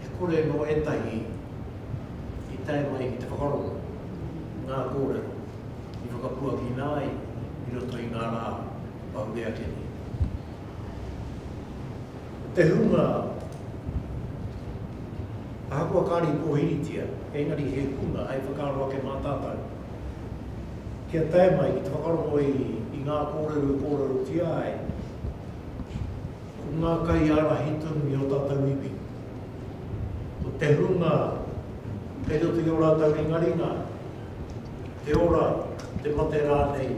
He kore nō ētahi i tae mai ki te whakarongo i ngā kōrero i whakapuakina ai i roto i ngā rā kua huri ake nei. Ko te hunga ahakoa kāre i pōhiritia, engari he hunga hei whakaaro ake mā tātou kia tae mai ki te whakarongo i ngā kōrero i kōrerotia ai, Ko ngā kaiārahi tonu i ō tātou iwi, ko te hunga kei roto i ō rātou ringaringa, te ora, te mate rānei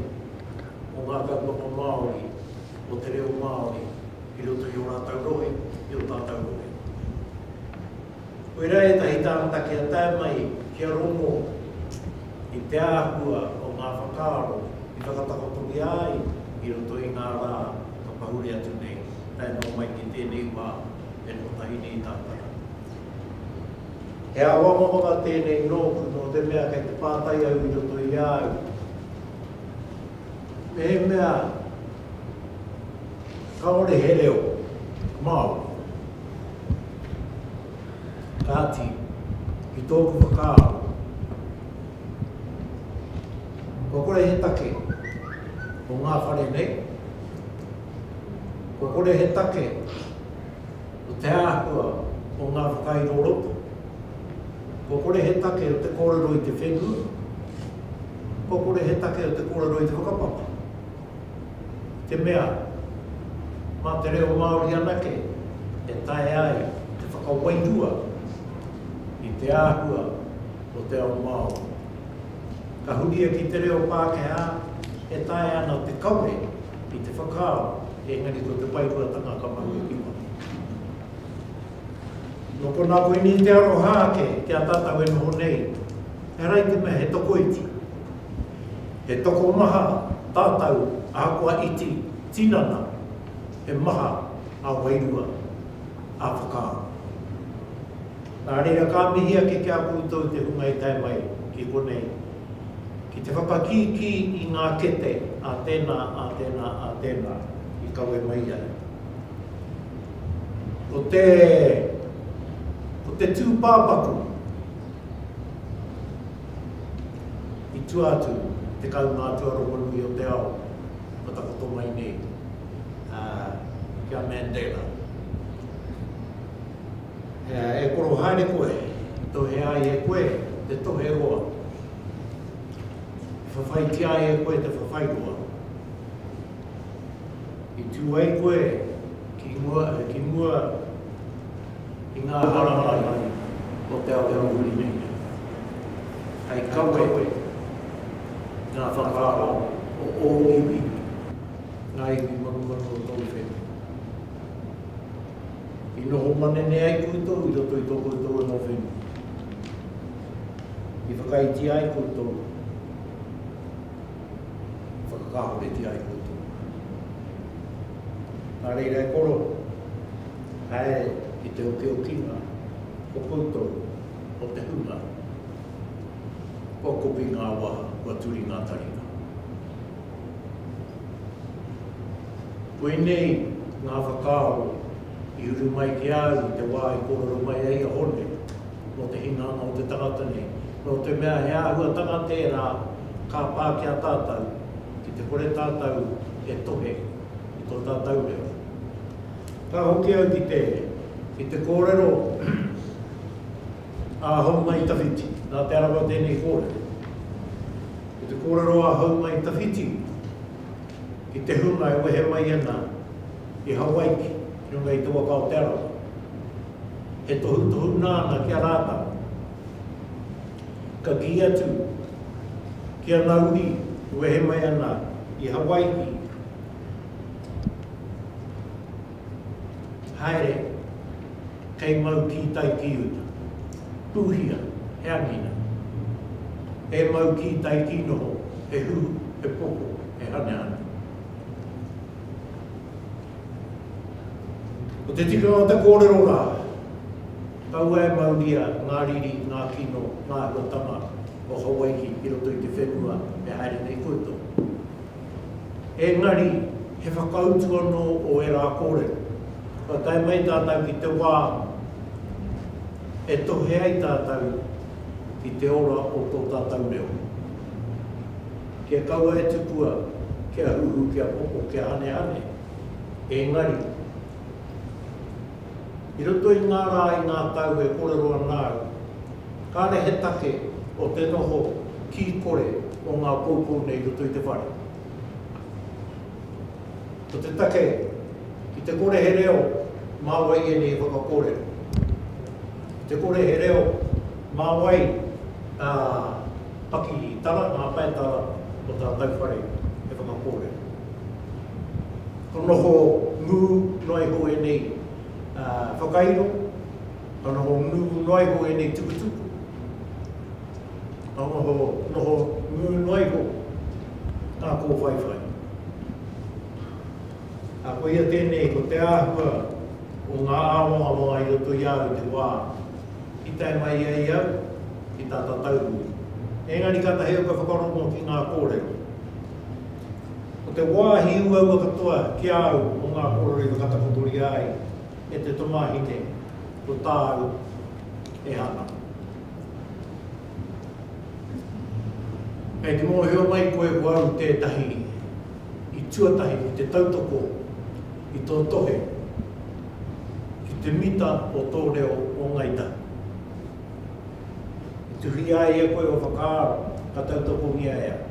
o ngā kaupapa Māori, o te reo Māori i roto i ō rātou rohe, i ō tātou rohe. Koirā ētahi tāngata kia tae mai, kia rongo i te āhua o ngā whakaaro i whakatakotoria ai i roto i ngā rā. Ka pahuri atu nei, tae noa mai ki tēnei wā, e kotahi nei tātara. He āwangawanga tēnei nōku, nō te mea kei te pātai au i roto i a au, mehemea kāore he reo Māori. Kāti, ki tōku whakaaro, Kua kore he take o ngā whare nei, kua kore he take o te āhua o ngā whakairoroto, kua kore he take o te kōrero i te whenua, kua kore he take o te kōrero i te whakapapa. Te mea, mā te reo Māori anake e taea ai te whakawairua i te āhua o te ao Māori. Ka huria ki te reo Pākehā e taea ana te kawe i te whakaaro engari ko te whaihuatanga ka mahue ki waho. Nō konā koinei te aroha ake ki a tātou e noho nei, he rae te mea he tokoiti, he tokomaha tātou ahakoa iti, tinana, he maha ā-wairua, ā-whakaaro. Nā reira ka mihi ake ki a koutou te hunga i tae mai ki konei, ki te whakakīkī i ngā kete a tēnā, a tēnā, a tēnā i kawe mai ai. Ko te, ko te tūpāpaku i tua atu i te kāunga atua rongonui o te ao kua takoto mai nei, ā, ki a Mandela. E koro haere koe, tohe ai e koe te tohe roa. E whawhaitia ai e koe te whawhai roa. I tū ai koe ki mua, ki mua i ngā hārai o te ao huri nei. Hei kawe koe ngā whakaaro o ō iwi, ngā iwi manuhanu o tōu whenua. I noho manene ai koutou i roto i tō koutou anō whenua. I whakaaetia ai koutou, i whakakāhoretia ai koutou. Nā reira e koro, haere ki te okiokinga o koutou, o te hunga, kua kopi ngā wā, kua turi ngā taringa. Koinei ngā whakaaro i uru mai ki a au i te wā i kōrero mai ai a Hone mō te hinganga o te tangata nei. Nō te mea he āhuatanga tērā ka pā ki a tātou ki te kore tātou e tohe i tō tātou reo. Ka hoki au ki te kōrero. a Haumai Tawhiti. Nā Te Arawa tēnei kōrero. Ko te kōrero a Haumai Tawhiti ki te hunga e wehe mai ana i Hawaiki ki runga i te waka o Te Arawa. He tohutohu nāna ki a rātau. Ka kī atu ki ana uri e wehe mai ana i Hawaiki, Haere, kei mau kītai ki uta. Pūhia, he anina. E mau kītai ki noho, he huhu, he poko, he hanehane. Ko te tikanga o te kōrero rā, kaua e mauria ngā riri, ngā kino, ngā āhuatanga o Hawai'i i roto i te whenua e haere nei koutou. Engari, he whakautu anō o ērā kōrero, kua tae mai tātou ki te wā e tohe ai tātou ki te ora o tō tātou reo. Kia kaua e tukua, kia huhu, kia popo, kia hanehane, engari, I roto i ngā rā, i ngā tau e kōrero ana au, kāre he take o te noho kī kore o ngā poupou nei i roto i te whare. Ko te take, ki te kore he reo mā wai ēnei e whakakōrero. Ki te kore he reo mā wai ngā pakitara, ngā paetara o tātou whare e whakakōrero. Ka noho ngū noa iho ēnei whakairo, ka noho ngū noa iho ēnei tukutuku, ka noho ngū noa iho ngā kōwhaiwhai. Ā, koia tēnei, ko te āhua o ngā āwangawanga i roto i au i te wā i tae mai ai au ki tā Tataurui. Engari kātahi au ka whakarongo ki ngā kōrero. Ko te wāhi uaua katoa ki a au o ngā kōrero i whakatakotoria ai e te tamāhine ko tāu e hanga. Kei te mōhio mai koe ko au tētahi i tuatahi ki te tautoko i tō tohe ki te mita o tō reo o Ngāi Tahu. E tuhia ai e koe ua whakaaro ka tautokongia e au.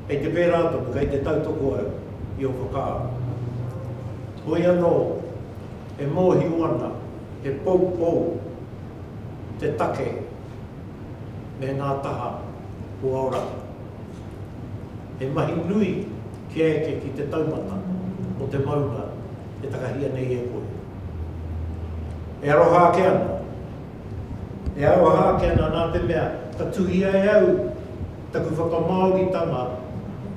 Kei te pērā tonu, kei te tautoko au i ō whakaaro. Hoi anō, e mōhio ana he poupou te take me ngā taha o ō rahi. He mahi nui kia eke ki te taumata o te maunga. e takahia nei e koe. E aroha ake ana. E aroha ake ana nā te mea ka tuhia e au taku whakamāoritanga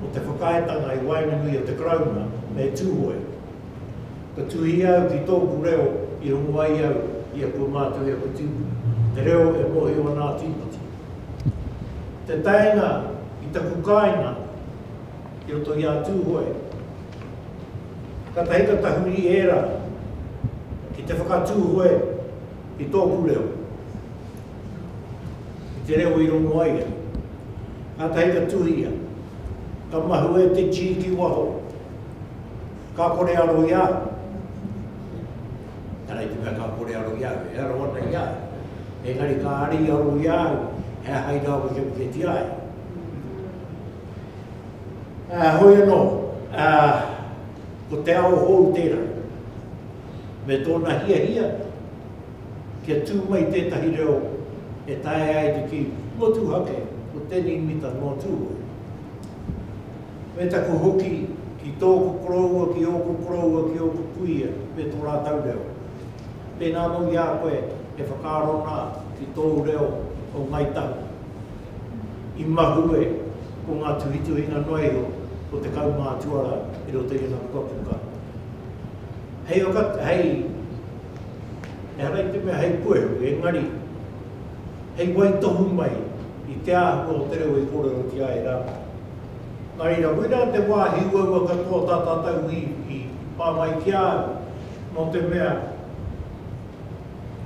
o te whakaaetanga i waenganui a te Karauna me Tūhoe. Ka tuhia au ki tōku reo i rongo ai au i aku mātua i aku tīpuna, te reo e mōhio ana a Tīpoti. Te taenga i taku kāinga, I roto i a Tūhoe, kātahi ka tahuri ērā ki te whakatūhoe i tōku reo, i te reo i rongo ai ia. Kātahi ka tuhia, ka mahue te tī ki waho, ka kore aro i a au. Ehara i te mea ka kore aro i a au, e aro ana i a au. Engari ka ari aro i a au, he aha i rāwekeweke tia ai? Ā, heoi anō, ā, ko te ao hou tērā, me tōna hiahia kia tū mai tētahi reo e taea ai te kī, Motuhake, ko tēnei mita nō Tūhoe. Me taku hoki ki tōku koroua, ki ōku koroua, ki ōku kuia me tō rātou reo. Pēnā anō i a koe e whakaaro ana ki tōu reo o Ngāi Tahu. i mahue ko ngā tuhituhinga noa iho o te kaumaa tuarā i roto i ana pukapuka. Hei waka, hei, ehara i te mea hei puehu, engari, hei waitohu mai i te āhua o te reo i kōrerotia ai rātou. Nā reira, koirā te wāhi uaua katoa tā tātou i, i pā mai ki a au, nō te mea,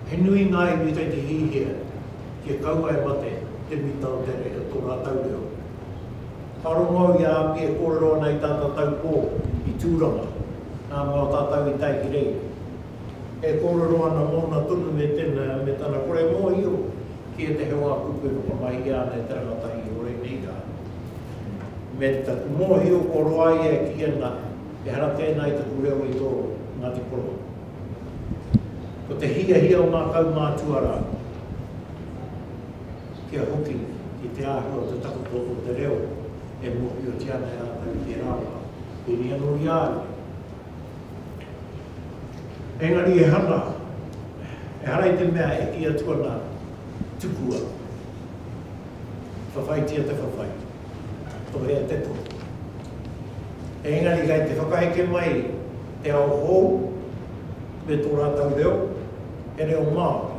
He nui ngā iwi kei te hihia kia kaua e mate te mita o te reo, tō rātou reo. Ka rongo au i a Api e kōrero ana i tata tau pō i Tūranga, nā mō tātou i tae ki reira. E kōrero ana mōna tonu me tena, me tana kore mōhio ki ētahi o ngā kupu e whakamahia ana e te rangatahi o ēnei rā. Me taku mōhio kua roa ia e kī ana, ehara tēnā i taku reo i tō Ngāti Porou. Ko te hiahia o ngā kaumātua rā kia hoki ki te āhua o te takoto o te reo e mōhiotia ana e rātou i tērā wā, pēnei anō i a au. Engari e hanga, ehara i te mea e kī atu ana, tukua, whawhaitia te whawhai. Tohea te tohu. Engari kei te whakaheke mai te ao hou me tō rātou reo, he reo Māori.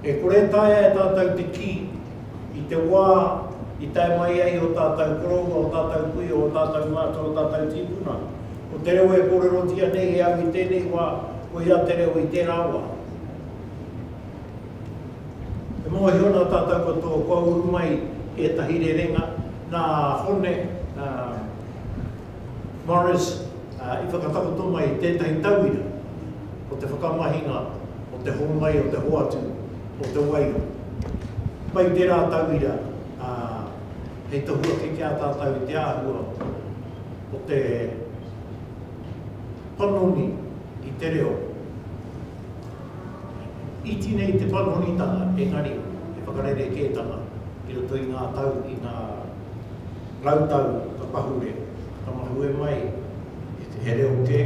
E kore e taea e tātou te kī, i te wā i tae mai ai ō tātou koroua, ō tātou kuia, ō tātou mātua, ō tātou tīpuna, ko te reo e kōrerotia nei e au i tēnei wā, koia te reo i tērā wā. E mōhio ana tātou ko tō kua uru mai ētahi rerenga nā Hone Morris i whakatakoto mai tētahi tauira o te whakamahinga o te hōmai o te hoatu o te wairua. Pai tērā tauira hei tohu ake ki a tātou i te āhua o te panoni i te reo. Iti nei te panonitanga, engari he whakarerekētanga i roto i ngā tau, i ngā rau tau ka pahure, ka tamahue mai he reo kē,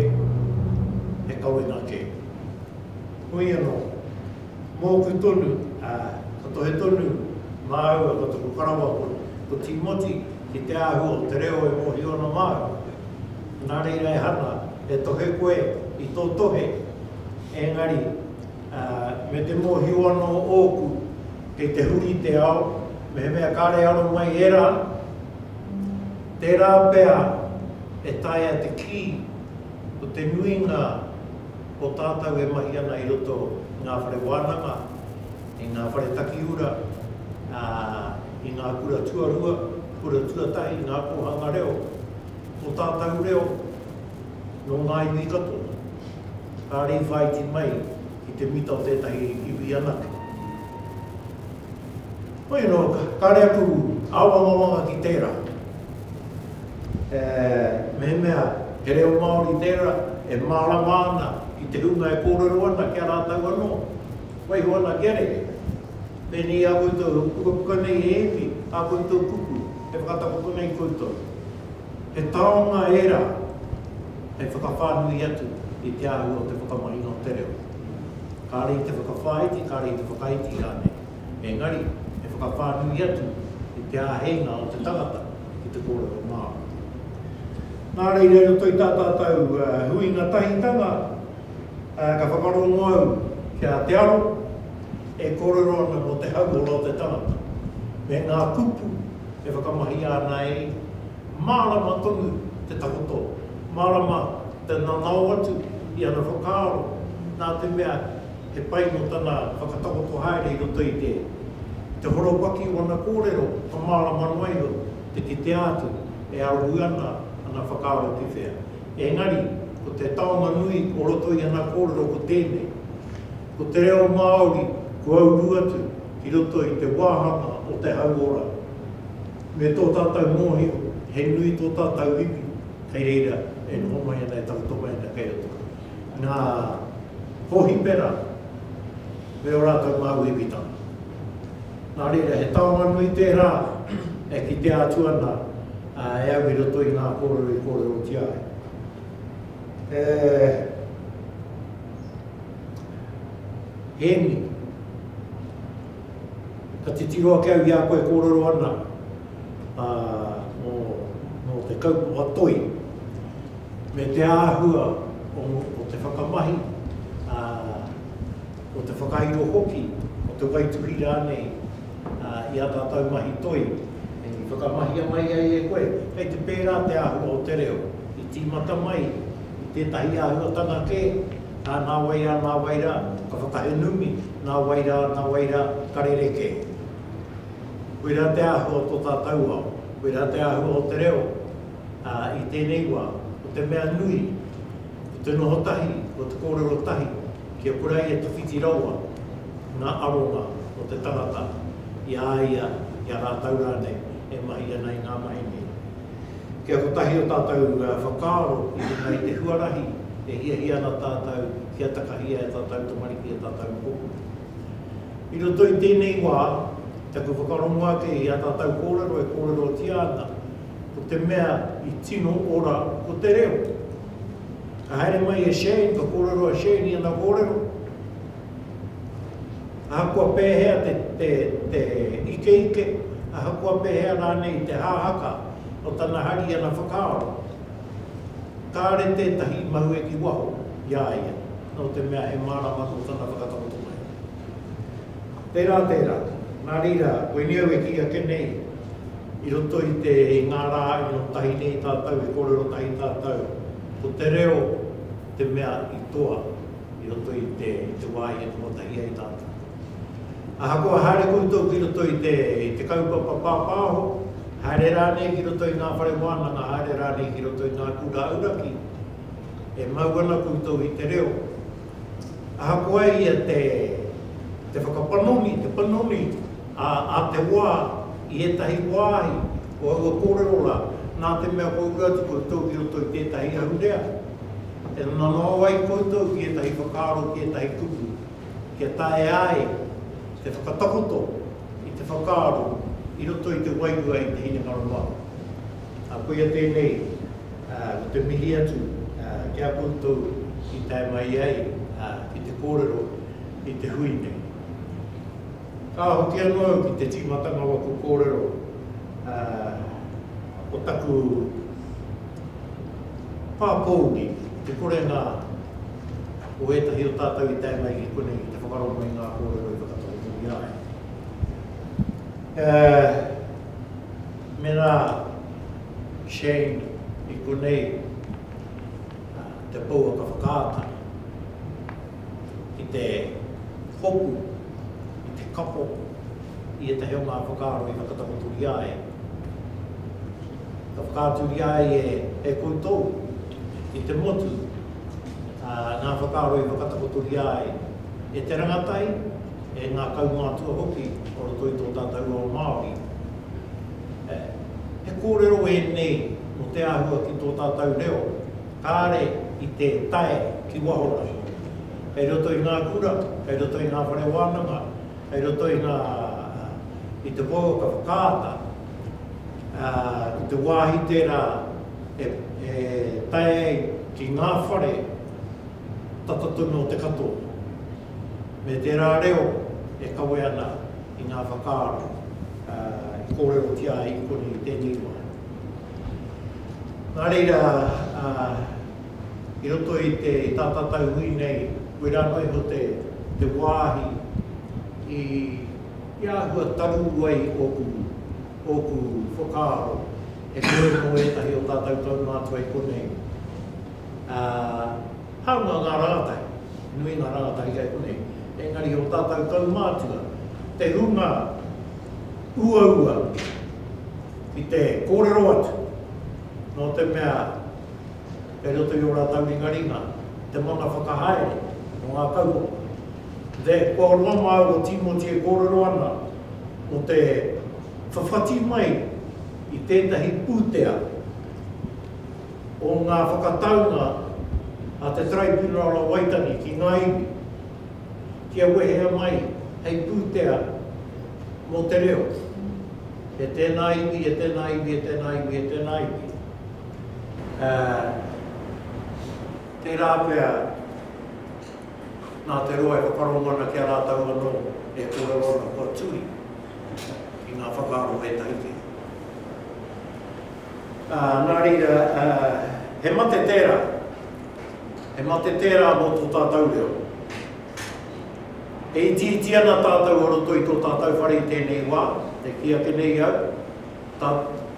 he kawenga kē. Hoi anō, mōku tonu, ā, ka tohe tonu māua ko taku karawa ko Tīmoti ki te āhua o te reo e mōhio ana māua. Nā reira e hanga, e tohe koe i tō tohe, engari me te mōhio anō ōku kei te huri te ao, mehemea kāre aro mai ērā, tērā pea e taea te kī ko te nuinga o tātou e mahi ana i roto i ngā whare wānanga, i ngā whare takiura, ā, i ngā kura tuarua, kura tuatahi, ngā kōhanga reo. Ko tātau reo, nō ngā iwi katoa, ka rīwhāiti mai ki te mita o tētahi iwi anake. Hoi anō, kāre aku āwangawanga ki tērā. E mehemea he reo Māori tērā e mārama ana i te hunga e kōrero ana ki a rātau anō, waiho ana kia rere. Pēnei i a koutou, e pukapuka nei he iwi, ā koutou kupu, e whakatakoto nei koutou. He taonga ērā hei whakawhānui atu i te āhua o te whakamahinga o te reo. Kāore i te whakawhāiti, kāore i te whakaiti rānei, engari he whakawhānui atu i te āheinga o te tangata ki te kōrero Māori. Nā reira, i roto i tā tātou huinga tahitanga, ka whakarongo au kia te aro e kōrero ana mō te hauora o te tangata, me ngā kupu, e whakamahia ana e ia. Mārama tonu te takoto, mārama te nanao atu i ana whakaaro, nā te mea he pai nō tana whakatakoto haere i roto i te i te horopaki o ana kōrero, ka mārama noa iho te kitea atu e arohu ana ana whakaaro ki whea. Engari, ko te taonga nui o roto i ana kōrero ko tēnei. Ko te reo Māori kua uru atu ki roto i te wāhanga o te hauora. Me tō tātou mōhio, he nui tō tātou riri, kei reira e noho mai ana, e takoto mai ana kei roto. Ngā hōhipera me ō rātou māuiuitanga. Nā reira, he taonga nui tērā e kitea atu ana e au i roto i ngā kōrero i kōrerotia ai. E. Hēmi, ka titiro ake au i a koe e kōrero ana mō te kaupapa toi me te āhua o te whakamahi, o te whakairo hoki, o te waituhi rānei i ā tātou mahi toi i whakamahia mai ai e koe. Kei te pērā te āhua o te reo, i tīmata mai i tētahi āhuatanga kē, Ā, nā wai rā, nā wai rā, ka whakahē numi, nā wai rā, nā wai rā, ka rerekē. Koirā te āhua o tō tātou ao, koirā te āhua o te reo, ā, i tēnei wā, ko te mea nui, ko te noho tahi, ko te kōrero tahi, kia kura ia tawhiti rawa ngā aronga o te tangata i a ia, i a rātou rānei e mahi ana i ngā mahi nei. Kei a kotahi o tātou whakaaro i runga i te huarahi e hiahia ana tātou kia takahia e tātou tamariki, e tātou mokopuna. I roto i tēnei wā, taku whakarongo ake i a tātou kōrero e kōrerotia ana, ko te mea i tino ora ko te reo. Ka haere mai e Shane, ka kōrero a Shane i ana kōrero, Ahakoa pēhea te ikeike, ahakoa pēhea rānei te hāhaka o tana hari i ana whakaaro, kāore tētahi i mahue ki waho i a ia, nō te mea he mārama anō tana whakatakoto mai. Tērā tērā, nā reira, koinei au e kī ake nei, i roto i te, i ngā rā ino tahi nei tātou e kōrero tahi tātou, ko te reo te mea i toa. i roto i te, i te wā i arotahi ai tātou. Ahakoa haere koutou ki roto i te, i te kaupapa pāpāho, haere rānei ki roto i ngā whare wānanga, haere rānei ki roto i ngā kura auraki, e mau ana koutou i te reo. Ahakoa ia te, te whakapanoni, te panoni a, a te wā i ētahi wāhi o aua kōrero rā, nā te mea kua uru atu koutou ki roto i tētahi ahurea, E nanao ai koutou ki ētahi whakaaro, ki ētahi kupu, kia taea ai te whakatakoto i te whakaaro i roto i te wairua i te hinengaro Māori. Ā, koia tēnei, ā, ko te mihi atu, ā, ki a koutou i tae mai ai, ā, ki te kōrero i te hui nei. Ka hoki anō au ki te tīmatanga o aku kōrero, ā, ko taku Pāpōuri, i te korenga o ētahi o tātou i tae mai ki konei ki te whakarongo i ngā kōrero i whakatakotoria ai. Mēnā Shane i konei te pouaka whakaata ki te hopu i te kapo i ētahi o ngā whakaaro i whakatakotoria ai, Ka whakaaturia ai e koutou, i te motu, ngā whakaaro i whakatakotoria ai e te rangatahi, e ngā kaumātua hoki o roto i tō tātou ao Māori. He kōrero ēnei mō te āhua ki tō tātou reo, kāre i te tae ki waho rā, kei roto i ngā kura, kei roto i ngā whare wānanga, kei roto i ngā, i te kōrero ka whakaata, ā, ko te wāhi tērā e tae ai ki ngā whare tata tonu o te katoa, me tērā reo e kawe ana i ngā whakaaro i kōrerotia ai i konei i tēnei wā. Nā reira, ā, i roto i te tā tātou hui nei, koirā noa iho te wāhi i I āhua taru ai ōku, ōku whakaaro e koe mō ētahi o tātou kaumātua i konei, ā, hāunga ngā rangatahi, nui ngā rangatahi kei konei, engari o tātou kaumātua, te hunga uaua ki te kōrero atu, nō te mea kei roto i ō rātou ringaringa, te mana whakahaere mō ngā kaupapa. The Kua roa māu o Tīmoti e kōrero ana mō te whawhati mai i tētahi pūtea o ngā whakataunga a te Taraipiunara o Waitangi ki ngā iwi, kia wehea mai hei pūtea mō te reo e tēnā iwi, e tēnā iwi, e tēnā iwi, e tēnā iwi. Ā, tērā pea, nā te roa e whakarongo ana ki a rātou anō e kōrero ana kua tui i ngā whakaaro ētahi kē. Ā, nā reira, ā, he mate tērā, he mate tērā mō tō tātou reo. E itiiti ana tātou o roto i tō tātou whare i tēnei wā, e kī ake nei au, Tā,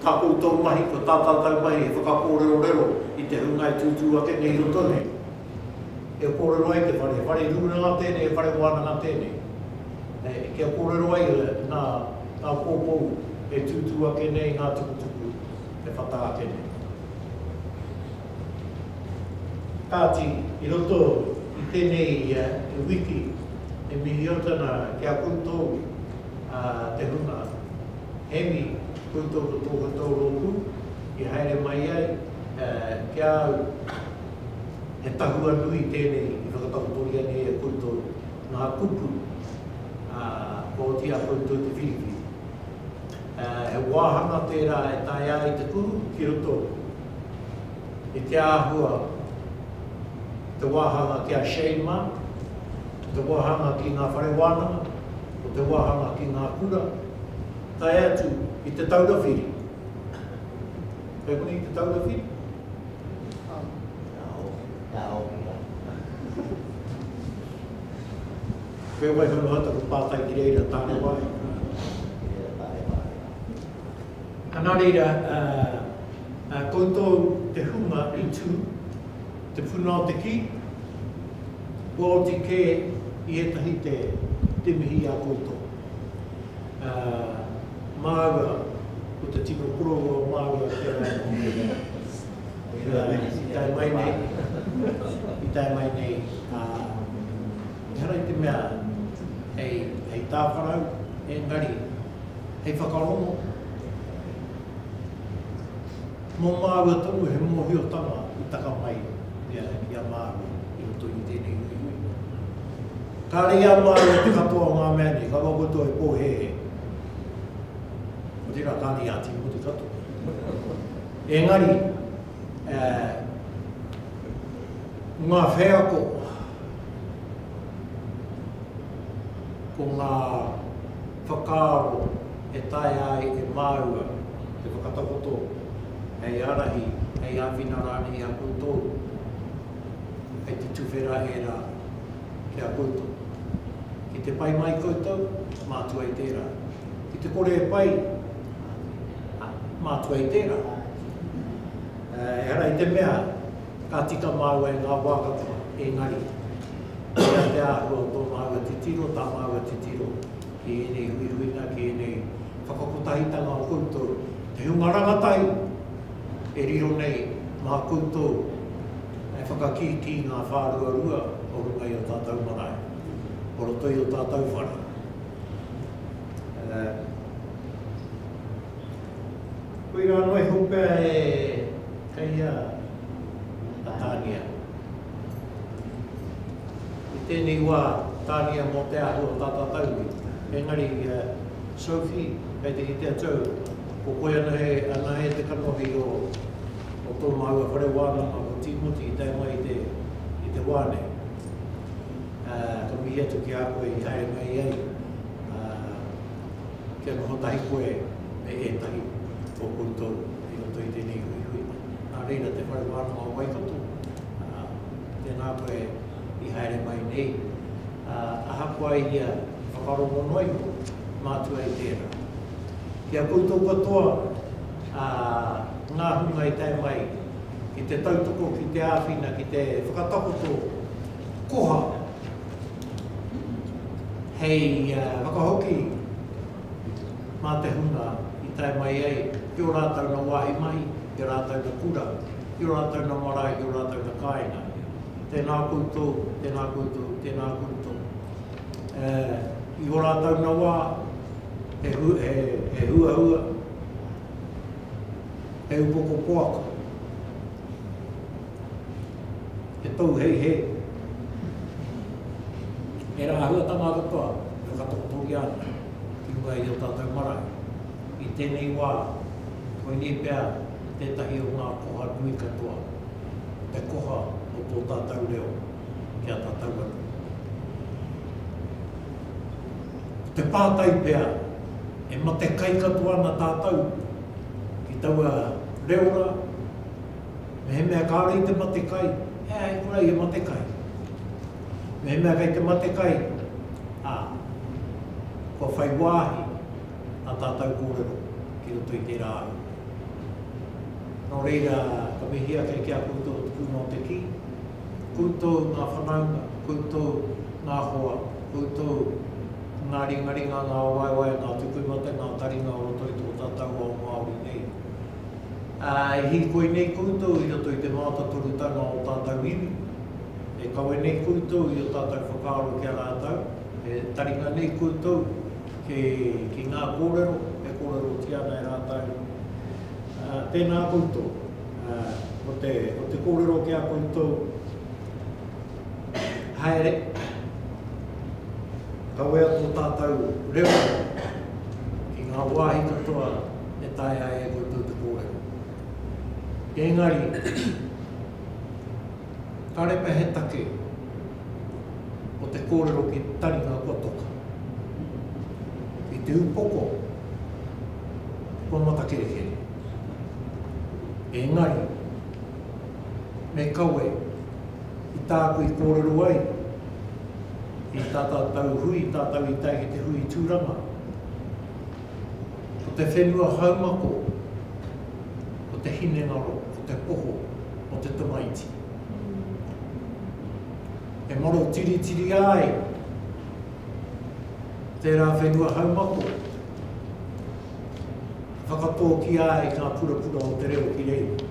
tā koutou mahi, ko tā tātou mahi he whakakōrerorero i te hunga e tūtū ake nei i roto nei. E kōrero ai te whare, he whare rūranga tēnei, he whare wānanga tēnei. E, kia kōrero ai nā, nā kōkou e tūtū ake nei i ngā tukutuku e whata ake nei. Kāti, i roto i tēnei wiki, e mihio tana ki a koutou, ā, te hunga. Hemi, koe tō ko tō koutou rōpū i haere mai ai ki a au, he tahua nui tēnei i whakatakotoria nei e koutou ngā kupu, ā, kua oti a koutou te whiriwhiri. He wāhanga tērā e taea ai te kuhu ki roto i te āhua o te wāhanga ki a Shane mā, o te wāhanga ki ngā whare wānanga, o te wāhanga ki ngā kura, tae atu i Te Taura Whiri. Kei konei Te Taura Whiri? Whewai whanu hata ko pātai ki reira tāne wāhi. A nā reira, ā, koutou te hunga i tū, te puna o te kī, kua oti kē i ētahi te, te mihi i a koutou. Ā, māua, ko te tino kororō māua ki a rātou. I tae mai nei, i tae mai nei, ā, ehara i te mea hei, hei tāwharau, engari. hei whakarongo mō māua tonu he mōhiotanga i taka mai i a Rangi a Māui i roto i tēnei huihui. Kāre i a māua te katoa o ngā mea nei, ka roa koutou e pōhēhē. Ko tērā kāre i a Tīmoti katoa. Engari, eh, ngā wheako, ko ngā Whakaaro e taea ai e māua te whakatakoto hei ārahi, hei āwhina rānei i a koutou, kei te tuwhera ērā ki a koutou. Ki te pai mai koutou, mātua i tērā. Ki te kore e pai, mātua i tērā. Ehara i te mea Ka tika māua e ngā wā katoa, engari, mea te āhua tō māua titiro, tā māua titiro ki ēnei huihuinga, ki ēnei whakakotahitanga o koutou, te hunga rangatahi e riro nei mā koutou e whakakī ki ngā whāruarua o runga i ō tātou marae, o roto i ō tātou whare. Koirā noa iho pea e kei a Tānia. I tēnei wā, Tānia mō te ahu o Tata Tauri, engari Sophie, kei te kite atu au, ko koe anahe, anahe te kanohi o tō māua whare wānanga ko Tīmoti i tae mai i te, i te wā nei. Ka mihi atu ki a koe i haere mai ai. Kia noho tahi koe me ētahi o koutou i roto i tēnei huihui. Nā reira te Whare Wānanga o Waikato, tēnā koe i haere mai nei. Ahakoa i ia whakarongo noa iho, mātua i tērā. Ki a koutou katoa, ngā hunga i tae mai ki te tautoko, ki te āwhina, ki te whakatakoto koha. hei whakahoki mā te hunga i tae mai ai ki ō rātou nā wāhi mahi, ki ō rātou nā kura, ki ō rātou nā marae, ki ō rātou nā kāinga. Tēnā koutou, tēnā koutou, tēnā koutou. I ō rātou nā wā, he huahua, he upoko poaka, He pou hei hē. He rā āhuatanga katoa e whakatakotoria ana ki runga i ō tātou marae. I tēnei wā, koinei pea tētahi o ngā koha nui katoa, te koha o tō tātou reo ki a tātou anō. Ko te pātai pea, e matekai katoa ana tātou ki taua reo rā? Mehemea kāore i te mate kai, he āhei kura ia mate kai. Mehemea kei te mate kai, ā, kua whai wāhi ā tātou kōrero ki roto i tērā ahu. Nō reira, ka mihi ake ki a koutou te puna o te kī, koutou ngā whanaunga, koutou ngā hoa, koutou ngā ringaringa, ngā waewae, ngā tupu mate, ngā taringa o roto i tō tātou ao Māori nei. Ā, e hīkoi nei koutou i roto i te mātatorutanga o ō tātou iwi, e kawe nei koutou i ō tātou whakaaro ki a rātou, e taringa nei koutou ki ngā kōrero e kōrerotia ana e rātou, ā, tēnā koutou, ā, ko te, ko te kōrero ki a koutou, Haere, kawea tō tātou reo ki ngā wāhi katoa, e taea ai e koutou te kōrero. Engari, kāre pea he take o te kōrero ki taringa kua toka. I te upoko, kua matakerekere. Engari, me kawe i tāku i kōrero ai, i tātau tau hui, tātau i tae ki te hui tūranga, Ko te whenua haumako, ko te hinengaro, ko te poho o te tamaiti. E maro tiritiria ai tērā whenua haumako, whakatōkia ai ngā purapura o te reo ki reira.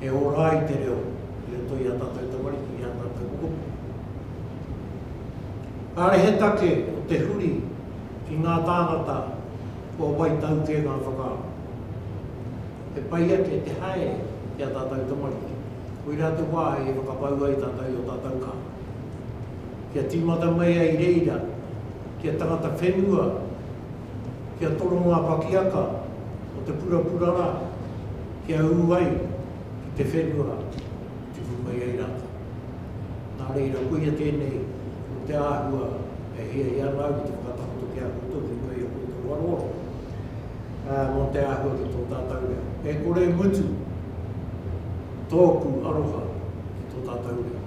E ora ai te reo i roto i a tātou tamariki, i a tātou kupu. Kāre he take o te huri, ki ngā tāngata kua waitau kē ngā whakaaro. He pai ake te haere ki a tātou tamariki, koirā te wāhi e whakapau ai tātou i o tātou kākā. Kia tīmata mai ai reira kia tangata whenua, kia toro ngā pakiaka o te purapura rā, kia ū ai ki te whenua. te whai mai ai rātou. Nā reira, koia tēnei, ko te āhua e hiahia ana au ki te whakatakoto ki a koutou ki runga i a koutou aroaro, ā, mō te āhua ki tō tātou reo. E kore e mutu tōku aroha ki tō tātou reo.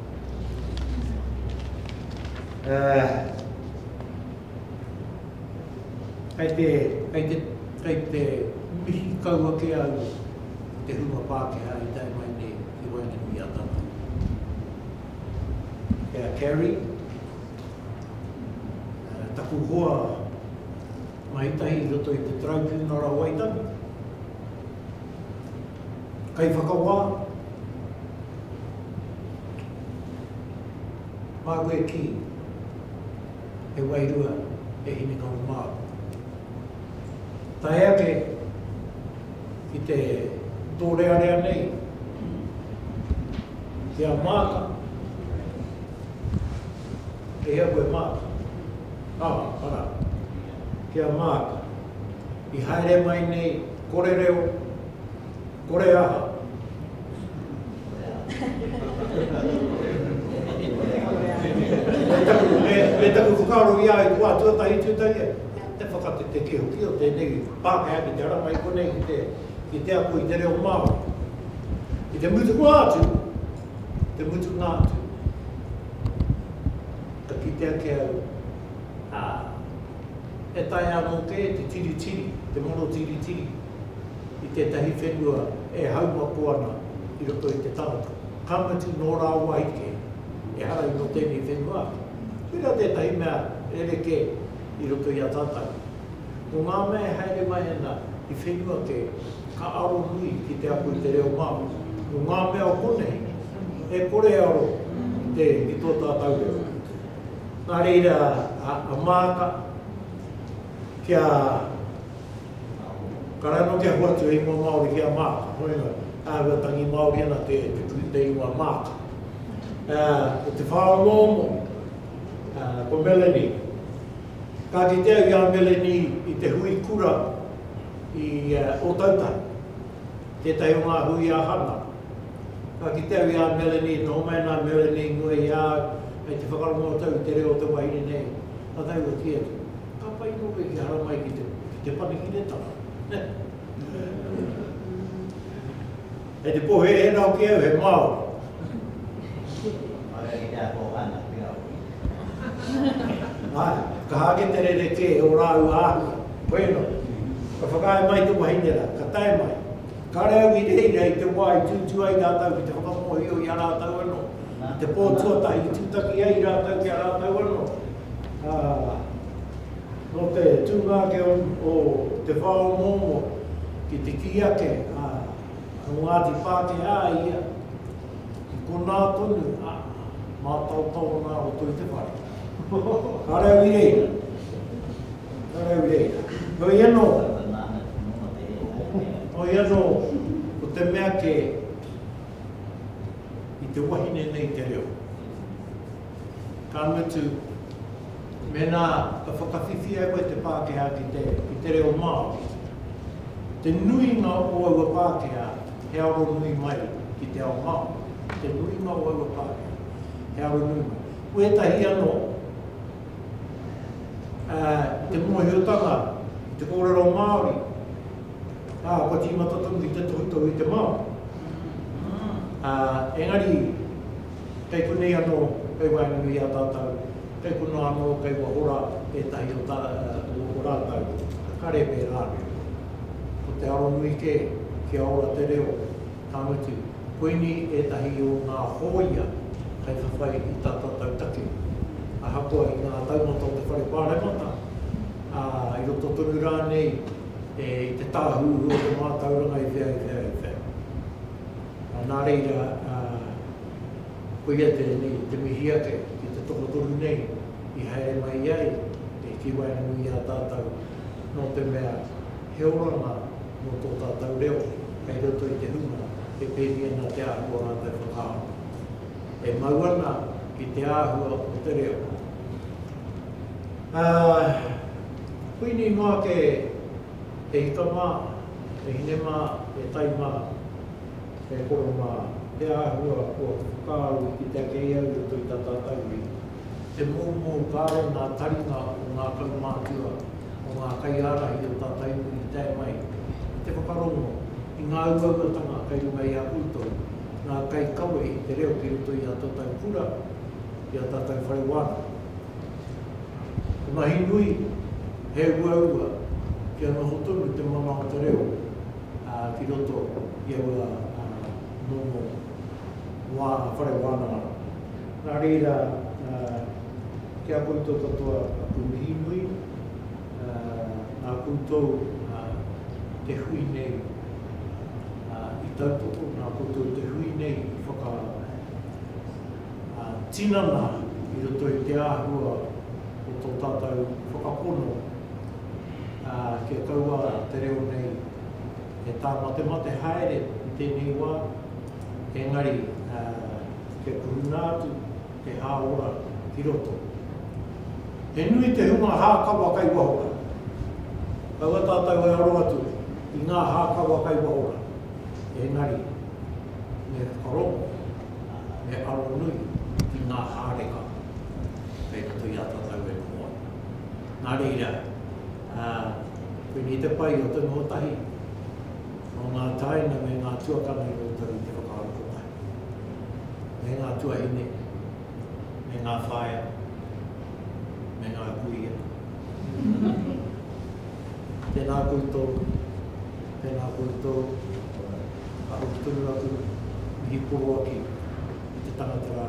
Ā, kei te, kei te, kei te mihi kau ake au, te hunga Pākehā i tae mai nei ki Waingunui-a-Tawhai. E a Carrie, taku hoa mahitahi i roto i te Taraipiunara o Waitangi, kaiwhakawā, māku e kī, he wairua e Hinengaro Mā. Tae ake ki te tōrearea nei, ki a Maata. E hea koe Maata? Ā, arā, ki a Maata. I haere mai nei, kore reo, kore aha? Me taku whakaaro i a au, kua tuatahi tūtaki au, te whakatetekē hoki o tēnei. Pākehā ki te rama i konei ki te, ki te ako i te reo Māori. Ki te mutunga atu, ki te mutunga atu, ka kite ake au, ā, e taea anō kē te tiritiri, te moro tiritiri i tētahi whenua e haumako ana i roto i te tangata. Ka mutu nō rāwahi kē, ehara i nō tēnei whenua atu. Koirā tētahi mea rerekē i roto i a tātau. Mō ngā mea e haere mai ana i whenua kē, ka aro nui ki te ako i te reo Māori. Mō ngā mea o konei, e kore e aro i te, i tō tātau reo. Nā reira, a Maata, kia, ka rae noa kia hoatu he ingoa Māori ki a Maata, hoenga, āhua tangi Māori ana te, te ingoa Maata. Ko te whāomoomo, ko Melanie, Ka kitea i a Melanie i te hui kura i Ōtautahi, tētahi o ngā hui a Hana. Ka kitea i a Melanie, nō mai nā Melanie i mua i a au, hei te whakarongo tau i te reo o te wahine nei, ka tau ka kī atu, Ka pai nō koe ki haramai ki te Panekiretanga, nē? Kei te poherehere hoki au he Māori. Aue ki te ako hana ki a koe. Ae, ka hake te rerekē o rāua āhua. Koe no. Ka whakaae mai te wahine ra, ka tae mai. Kare au i reira i te wa i tuutu ai ratou ki te whakamōhio i a ratou ano, i te pō tuatahi i tutaki ai ratou ki a ratou ano. A, no te tūnga ake o te wha o Momo ki te kī ake, a, Ko Ngāti Whāteā ia, ki konā tonu, ā, mātaotao ngā roto i te whare. Ka rau i reira. Ka rau i reira. Heoi anō, hoi anō, ko te mea kē, i te wahine nei te reo. Ka mutu, mēnā ka whakawhiwhi ai koe te Pākehā ki te, ki te reo Māori, te nuinga o aua Pākehā he aro nui mai ki te ao Māori, te nuinga o aua Pākehā he aro nui mai. Ko ētahi anō, ā, ko te mōhiotanga, ko te kōrero Māori, ā, kua tīmata tonu ki te tohutohu i te Māori. Ā, engari, Kei konei anō, kei waenganui i a tātou, kei konā anō, kei wahora ētahi o tā, o rātou. Ka rēpē rānei. Ko te aro nui kē, kia ora te reo, ka mutu, koinī ētahi o ngā hōia hei whawhai i tā tātou take. Ahakoa i ngā taumata o te Whare Pāremata, ā, i roto tonu rānei i te tāhuhu o te mātauranga i whea, i whea, i whea. Nā reira, koia tēnei te mihi ake ki te tokotoru nei i haere mai ai te Hikiwaenui i a tātou, nō te mea he oranga mō tō tātou reo kei roto i te hunga e pēnei ana te āhua o rātou whakaaro. E mau ana ki te āhua o te reo. Ā, koinei noa ake. He ika mā, he hine mā, he tai mā, he koro mā, he āhua kua kupu kā au i kite ake i au i roto i tā tātau iwi. He moumou kāore ngā taringa o ngā kaumātua, o ngā kaiārahi o tātau iwi i tae mai i te whakarongo i ngā uauatanga kei runga i a koutou, ngā kaikawe i te reo ki roto i ā tātau kura, i ā tātau whare wānanga. Te mahi nui, he uaua kia noho tonu te mana o te reo ki roto i aua momo wā whare wānanga. Nā reira, ki a koutou katoa aku mihi nui, nā koutou te hui nei i tautoko, nā koutou te hui nei i whakaaro. tinana i roto i te āhua o tō tātou whakapono kia kaua te reo nei e tāmatemate haere i tēnei wā, engari kia kurunga atu te hāora ki roto. He nui te hunga hākawa kai waho rā. Kaua tātou e aro atu i ngā hākawa kai waho rā, engari me whakarongo. he aro nui ki ngā hāringa kei roto i a tātou e koa. Nā reira, koinei i te pai o te nohotahi, o ngā tāina me ngā tuakana i roto i te whakaaro kotahi, me ngā tuahine, me ngā whaea, me ngā kuia. Tēnā koutou. Tēnā koutou, ka hoki tonu atu, mihi poro ake i te tangata rā,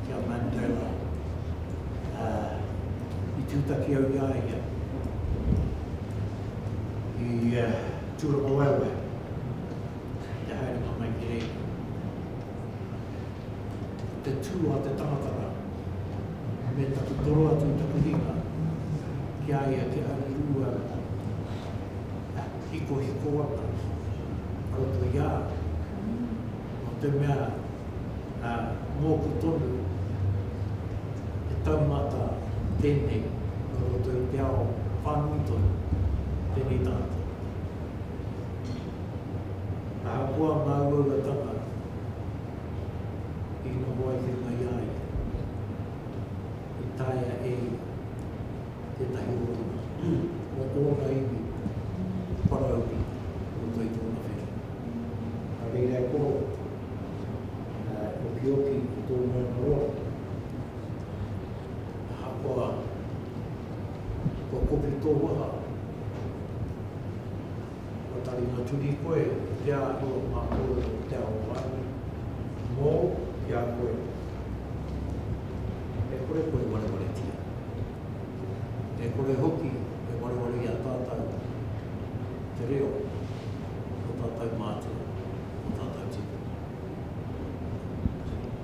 ki a Mandela. Ā, i tūtaki au i a ia, i Tūrangawaewae, ki te haerenga mai ki reira. Ko te tū a te tangata rā, me taku toro atu i taku hinga ki a ia, kia hari rū au, ā, hikohiko ana ko to ia no te mea a moku tonu he taumata tenei no roto i te ao whanui tonu tenei tangata ahakoa nga uaua tanga i noho ai te mai ia ia i taea e ia. tētahi o te pū o ōna iwi whanaunga i roto i tōna whare. Nā reira e koro, e okioki ki tō moana roa, ahakoa kua kopi tō waha. Kua tari nga turi koe i te ahu o nga korero o te ao waihi. Mou ki a koe e kore koe warewaretia. E kore hoki e wareware i a tatou te reo o tatou matua, o tatou tikanga.